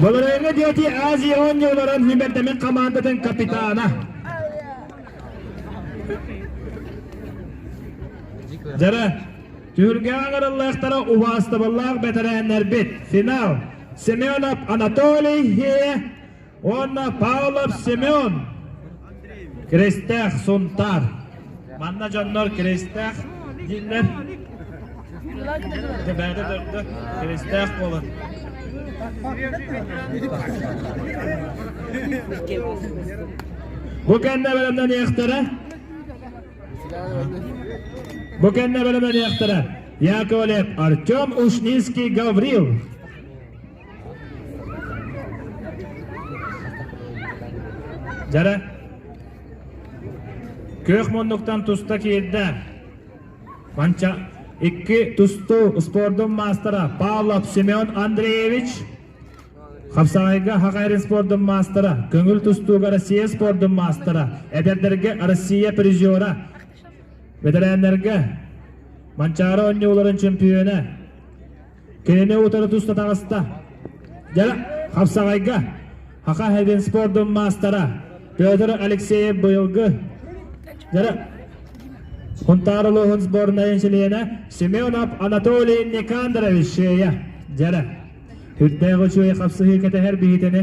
Speaker 1: Болырайга диэти Азия онньа олорон Химбердэмин командатын капитана. Дьара, түргээн арыллыахтара убаастабыллаах бэтэрээннэрбит. Финал Семенов Анатолий Хие уонна Павлов Семен киристээх Сунтаар. Манна дьоннор киристээх дииллэр. Бэйдэ дөрдө киристээх буолан. Бу кэннэ бэлэмнэниэхтэрэ. Бу кэннэ бэлэмнэниэхтэрэ. Яковлев Артем Ушницкий Гаврил. Дьара күөх муннуктан туста киирдэ. Манча икки тустуу спордун маастара Павлов Семен Андреевич Хапсаҕайга Хахайрин спордун маастара, көҥүл тустууга Россия спордун маастара, эдэрдэргэ Россия призера, бэтэрээннэргэ Манчаары оонньууларын чөмпүйүөнэ Кинини утары туста таҕыста. Дьэ, хапсаҕайга Хаха Хэдин спордун маастара Петр Алексеев быйылгы дьэ, Хунтаар улууһун сборнайын чилиэнэ Семенов Анатолий Никандрович Шея. Дьэрэ, үрдээх үчүгэй хапсыһыы кэтэһэр биһитини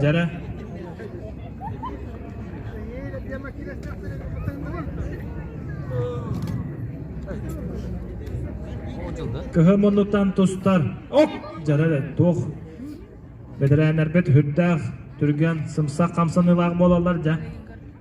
Speaker 1: Jara. Кыһы муннутан тустар. Ок! Жара туох бэдэрээннэрбит үрдээх түргэн сымса хамсаныылаах буолаллар дьа.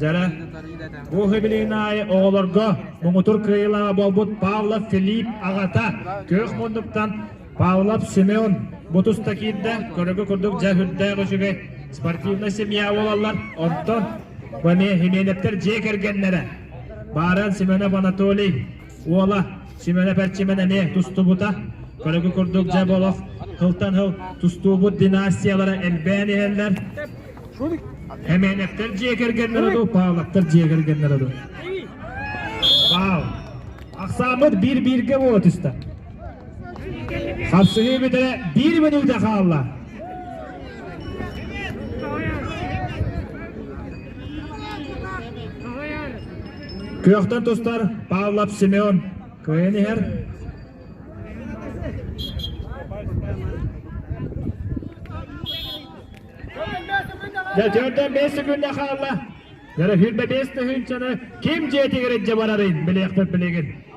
Speaker 1: Дьара, бу хибилинаайы оҕолорго муҥутур кыайылаҕа буолбут Павлов Филипп аҕата күөх муннуктан Павлов Семен бу туста киирдэ көрөгө курдук дьа үрдээх үчүгэй спортивная семья буолаллар онтон Баме Хименевтер дьиэ кэргэннэрэ Бааран Семенов Анатолий Уола симэнэ-пэрчимэнэ эмиэ тустубута. Көрөгү курдук дьэ олох хылтан хыл тустуубут династиялара элбээн иһэллэр. Эмээнэктэр дьиэ кэргэннэрэ дуу, Павловтар дьиэ кэргэннэрэ дуу. Павел, ахсааммыт биир-бииргэ буола түстэ. Хапсыһыы бүтэрэ биир мүнүүтэ хаалла. Күөхтэн тустар Павлов Семен кыайан иһэр. Дьэ, түөртэн бэс секунда хаалла. Дьара сүүрбэ бэс тыһыынчаны ким дьиэтигэр илдьэ барарын билиэхпит билигин.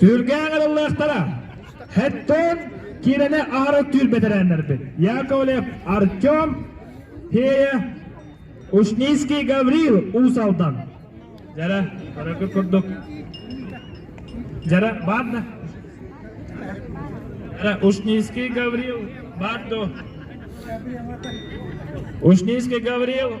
Speaker 1: Түргээх ылыллыахтара. Хэттон киирэни аһары түүр бэтэрээннэрбит. Яковлев Артем, Фея, Ушницкий Гаврил Усалдан. Жара, хорошо курдук. Жара, бадна. Жара, Ушницкий Гаврил, бадду. Ушницкий Гаврил,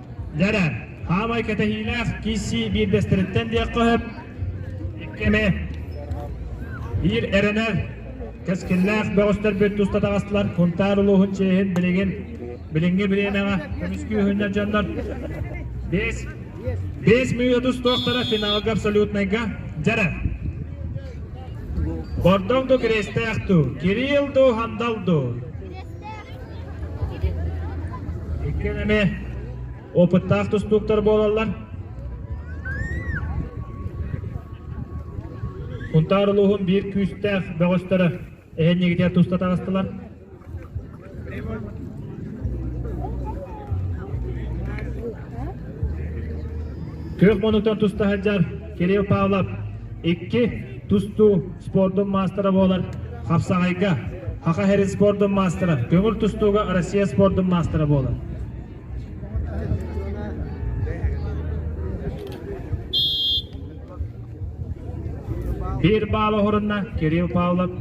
Speaker 1: Дьэрэ, хаамай кэтэһиилээх киссии биирдэстэриттэн диэххэ сөп. Икки эмэ биир эрэнэр кэскиллээх бөҕөстөрбүт туста таҕыстылар. Кунтаар улууһун чиэһин билигин билиҥҥи бириэмэҕэ көмүскүүһүнньэ дьоннор бэс бэс мүөт устуохтара финалга абсолютнайга дьэрэ Бордоҥ ду кириэстээх дуу Кирилл дуу Хандал дуу Иккиэн эмиэ опыттаах тустууктар буолаллар. Кунтаар улууһун биир күүстээх бөҕөстөрө эһэнньигитигэр туста таҕыстылар. Күөх мунуктар туста сылдьар Кирилл Павлов икки тустуу спордун маастара буолар хапсаҕайга Хаха Хэрис спордун маастара, көҥүл тустууга Россия спордун маастара буолар. Биир баал оһурунна Кирилл Павлов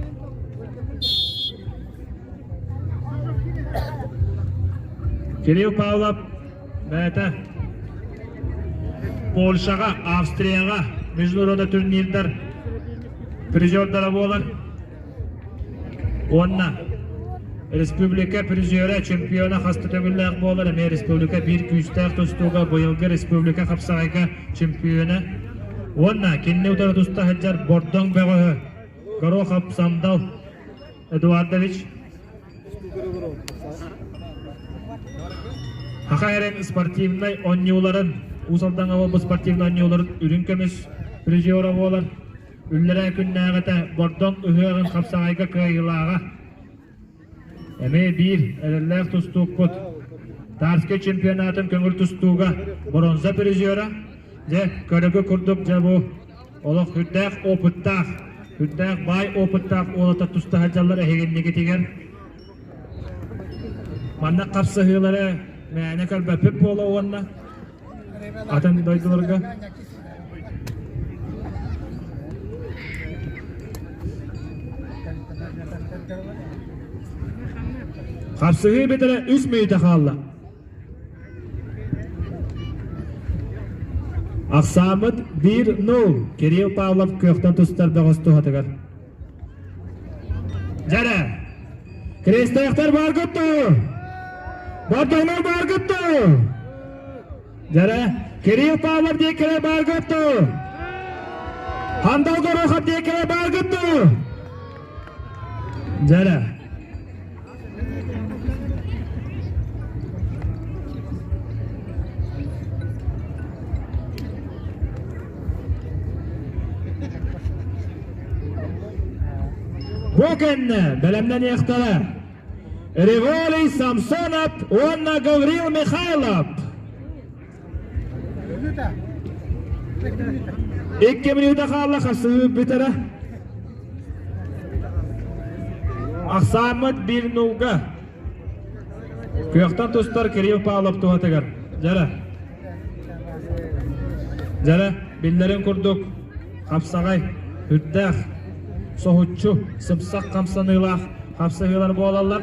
Speaker 1: Кирилл Павлов бэйэтэ Польшаҕа, Австрияҕа международный турнирдар призердара буолар уонна республика призера, чемпиона хаста төгүллээх буолар эмиэ республика биир күүстээх тустууга быйылгы республика хапсаҕайга чемпиона уонна кинини утары туста сылдьар Бордоҥ бөҕөһө Горохов Самдал Эдуардович Хаха Эрэн спортивнай оонньууларын, Уус Алдаҥаҕа бу спортивнай оонньууларын үрүҥ көмүс призера буолар, үллэрээ күннээҕитэ Бордоҥ ыһыаҕын хапсаҕайга кыайыылааҕа. Эмиэ биир эрэллээх тустуукпут. Тарский чемпионатын көҥүл тустууга бронза призера, дьэ, көрөгү курдук дьэ бу Олох үрдээх опыттаах, үрдээх баай опыттаах уолата туста сылдьаллар эһигиннигитигэр. Манна хапсыһыылары мээнэ көрбөппүт буола уонна атын дойдуларга Хапсыһыы бүтэрэ үс мүнүүтэ хаалла. Ахсааммыт биир нуул Кирилл Павлов кыахтан тустар бөҕөс туһатыгар. Дьэрэ! Крестоевтар бар куттуу! Бордоҥнор бар куттуу! Дьэрэ! Кирилл Павлов диэккилэ бар куттуу! Хандал Горохов диэккилэ бар куттуу! Дьэрэ! Бу кэннэ бэлэмнэниэхтэрэ Риволий Самсонов уонна Гаврил Михайлов. Икки минута хаалла хасыы бүтэрэ. Ахсааммыт bir нуга. Күөхтан тустар Кирилл Павлов туһатыгар. Жара. Жара, биллэрин курдук хапсаҕай, үрдээх, соһуччу, сыпсах хамсаныылаах хапсыһыылар буолаллар.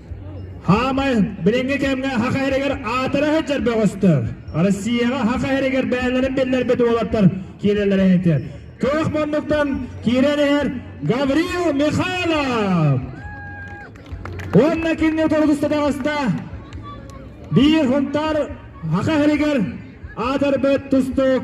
Speaker 1: Хаамай билиҥҥи кэмҥэ саха иһэригэр аатыра сылдьар бөҕөстөр. Россияҕа саха иһэригэр бэйэлэрин биллэрбит уолаттар киирэллэрэ иһитэ. Туох муннуктан киирэн иһэр Гаврил Михайлов. Уонна кинини долгустатаҕаста биир хунтаар саха иһэригэр аатырбыт тустуук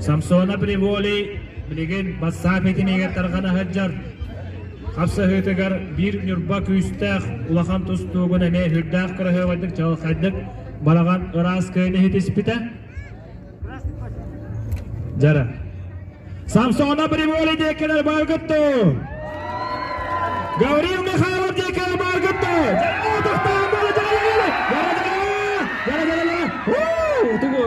Speaker 1: Самсона Приволи билигин бассаап итиниигэр тарҕана сылдьар. Хапсыһыытыгар биир ньурба күүстээх улахан тустуугун эмиэ сүрдээх кыраһыабайдык чаҕылхайдык балаҕан ыраас кыайын иһитиспитэ. Дьара. Самсона Приволи диэккилэр баргытту. Гаврил Михайлов диэккилэр баргытту. Дьара тохтаан бара дьара. Дара дара. Дара дара. Уу, тугу?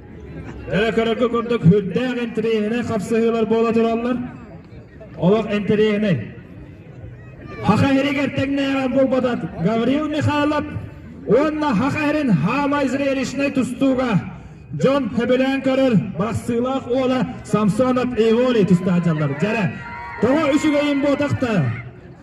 Speaker 1: Эрэ көрөргө курдук үрдээх интэриэһинэй хапсыһыылар буола тураллар. Олох интэриэһинэй. Хаха иһигэр тэҥнээҕэр буолбатат Гавриил Михайлов уонна Хаха иһин хаамай зрелищнай тустууга дьон хөбүлээн көрөр бырастыылаах уола Самсонов Иволи тустаачалар. Дьэрэ, тоҕо үчүгэйин буотахта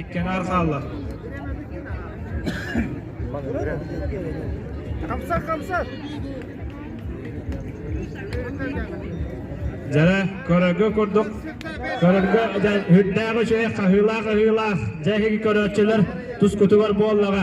Speaker 1: Иккэнээр хаалла. Хамсар хамсар. Дьара көрөргө курдук көрөргө үрдээҕи үчүгэй хаһыылаах аһыылаах дьэ иһиги көрөөччүлэр тускутугар буоллаҕа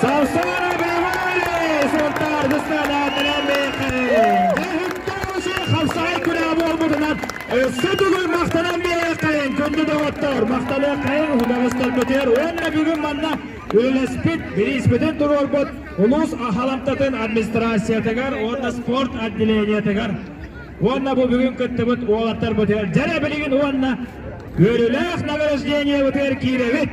Speaker 1: Саустана Брэвари Сунтаар Дыстанаатынан бэйэккэ Дыһыттарусы Хавсай күнэ буолбутунан Өссө түгүл махтанан бэйэккэ Күндү доҕоттор махтаныаххайын Удаҕыстарбытыгар уонна бүгүн манна үлэспит, бирииспитин туруорбут улуус аһаламтатын администрациятыгар уонна спорт отделениетыгар уонна бу бүгүн кыттыбыт уолаттарбытыгар дьэрэ билигин уонна Көрүлээх награждениебытыгар киирэбит.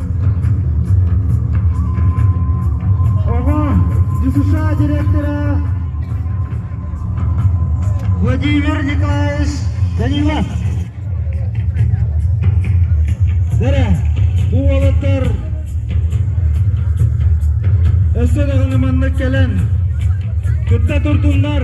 Speaker 1: ХСА директора Владимир Николаевич Данилов. Бэрэ, бу уолаттар өссө даҕаны маннык кэлэн кытта туртуннар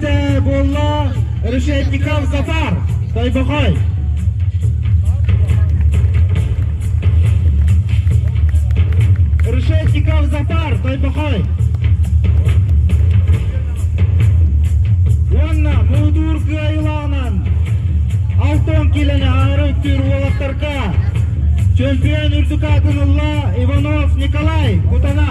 Speaker 1: буолла решетников татар тойбохой решетников затар тойбохой уонна муудуур кыайылаанан алтон килэни аары өттүүр уолаттарга чемпион үрдүк аатын ылла иванов николай кутана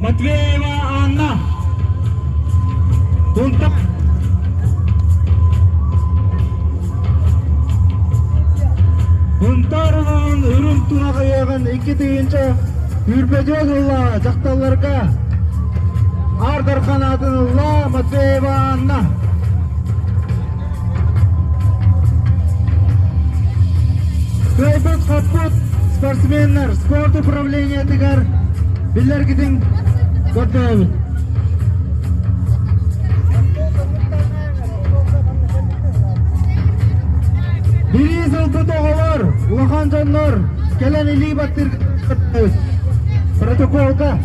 Speaker 1: Матвеева Анна. Тунтак. Унтарылаан үрүм тунаҕайыгын икки тыйынча үрбөдөл ылла дьахталларга ардар канатын ылла Матвеева Анна. Кайбыт-хаппыт спортсменнар спорт управлениега управлениетыгар биллэргитин көрдөһөбүт. Бири сылбыт оҕолор, улахан дьоннор кэлэн илии баттыыргыттыыс. Протоколга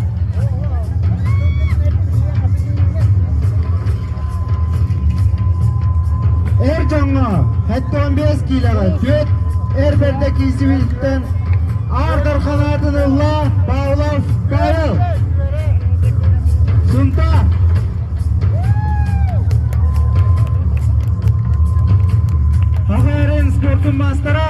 Speaker 1: Эр дьоҥҥо сэттэ уон биэс киилэҕэ түөрт эр бэрдэ киисибилиттэн аардар халаатын ылла Павлов Карл. Сунта Хаҕаарын спортун маастара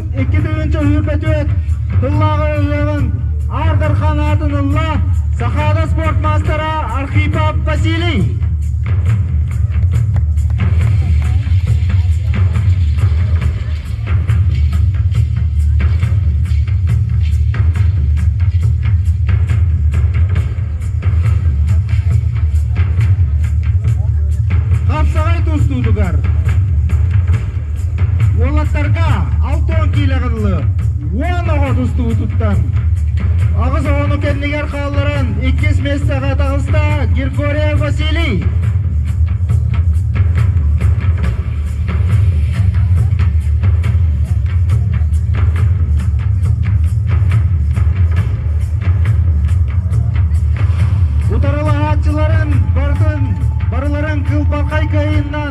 Speaker 1: Икки тыһыынча сүүрбэ түөрт сыллааҕы ырыаҕын Аар Дархан аатын ылла Сахаада спорт маастара Архипов Василий. Хапсаҕай тустуутугар Уолаттарга алтыһан киилэҕэллэр уон оҕо тустубутуттан аҕыс оҕону кэннигэр хаалларан иккис миэстэҕэ таҕыста Григорий Василий. Утарылаһааччыларын барытын барыларын кылбархай кыайыннан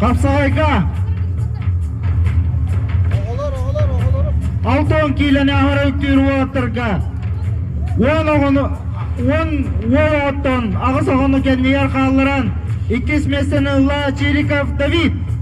Speaker 1: Хапсаҕайга алтан киилэни аһара үктүүр уолаттарга уон оҕону уон уол оҕоттон аҕыс оҕону кэннигэр хаалларан иккис миэстэни ылла Чириков Давид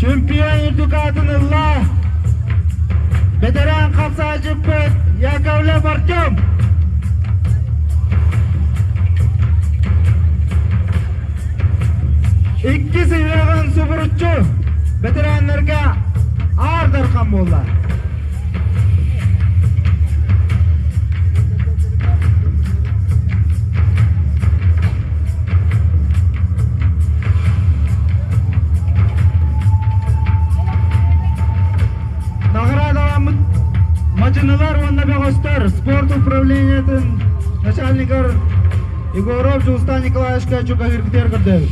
Speaker 1: чемпион дукатын ылла бэтэрээн хамсаачыппыт яковлев артем иккис ыһыаҕын субуруччу бэтэрээннэргэ аар дархан буолла Мачынылар уонна бөҕөстөр спорт управлениетын начальнигар Егоров Жустан Николаевичка чугаһыыргытыгар көрдөбүт.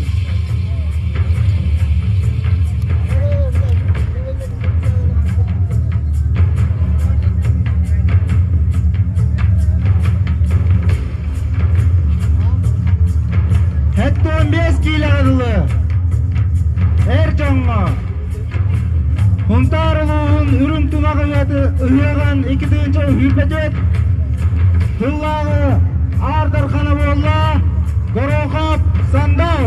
Speaker 1: Сэттэ уон биэс киилэҕэ дылы эр дьоҥҥо Хунтаар улууһун үрүҥ тумах ыһыаҕын икки тыһыынча сүүрбэтүөт сыллааҕы Аар Дархана буолла Горохоп Сандал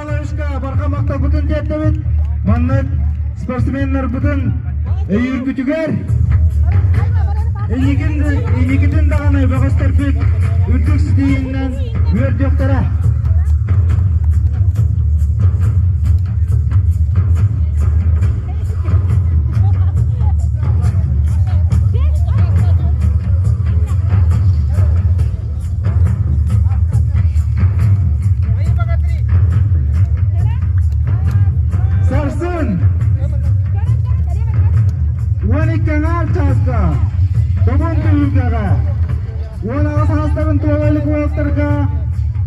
Speaker 1: Алаһыска барҕа махталбытын тиэрдэбит. Манна спортсменнарбытын өйүүргүтүгэр инникитин даҕаны бөҕөстөрбүт үрдүк ситиһииннэн үөрдүөхтэрэ. Сарсын уон икки аҥаар чааска Добун түһүлгэҕэ уон аҕыс саастарын туола олимпиадтарга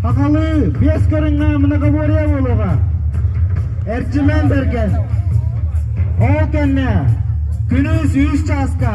Speaker 1: Хахалыы биэс көрүҥҥэ многоборье буолуоҕа. Эрчимэн Берген. Ол кэннэ күнүс үс чааска